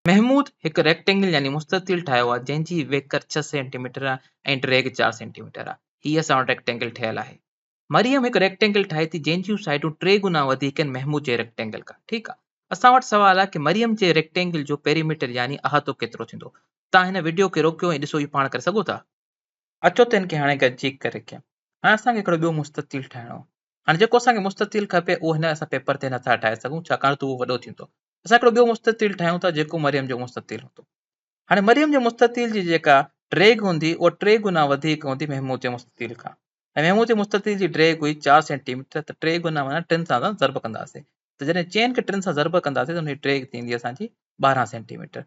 محمود هڪ ريڪٽينگل يعني مستطيل ٺاهيو آهي جنهن جي ويڪر ڇهه سينٽي ميٽر آهي ۽ ڊريگ چار سينٽي ميٽر آهي. هي اسان وٽ ريڪٽينگل ٺهيل آهي. مريم هڪ ريڪٽينگل ٺاهي ٿي جنهن جون سائيڊون ٽي گنا وڌيڪ آهن محمود جي ريڪٽينگل کان. ٺيڪ آهي. اسان وٽ سوال آهي ڪي مريم جي ريڪٽينگل جو پيريميٽر يعني احاطو ڪيترو ٿيندو. توهان هن وڊيو کي روڪيو ۽ ڏسو اهو پاڻ ڪري سگهو ٿا. اچو ته هن کي هاڻي گڏجي ڪري ڪيون. هاڻي اسان کي هڪڙو ٻيو مستطيل ٺاهڻو آهي. هاڻي جيڪو اسان کي مستطيل کپي اهو هن اسان پيپر تي نٿا ٺاهي سگهون ڇاڪاڻ ته اهو وڏو ٿيندو. اسان هڪڙو ٻيو مستطيل ٺاهيون ٿا جيڪو مريم جو مستطيل هوندو هاڻي مريم جي مستطيل جي جيڪا ڊيگهه هوندي اها ٽي گنا وڌيڪ هوندي محمود جي مستطيل کان ۽ محمود جي مستطيل جي ڊيگهه هئي چار سينٽي ميٽر ته ٽي گنا معنيٰ ٽن سان اسان ضرب ڪنداسين ته جڏهن چئن کي ٽن سان ضرب ڪنداسين ته ان جي ڊيگهه ٿيندي اسانجي ٻارهن سينٽي ميٽر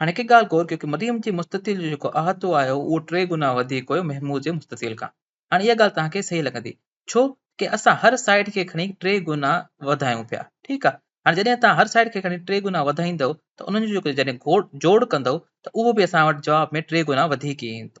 هاڻي هڪ ڳالهه غور ڪيو ڪي مريم جي مستطيل جو جيڪو احاطو آهي اهو ٽي گنا وڌيڪ هيو محمود جي مستطيل کان. هاڻي اها ڳالهه توهان کي صحيح لڳندي. ڇو ڪي اسان هر سائيڊ کي کڻي ٽي گنا وڌايون پيا. ٺيڪ آهي. هاڻي جڏهن توهان هر سائيڊ کي کڻي ٽي گنا وڌائيندؤ ته انهن جو جيڪو جڏهن جوڙ ڪندؤ ته اهو به اسان وٽ جواب ۾ ٽي گنا وڌيڪ ئي ايندو.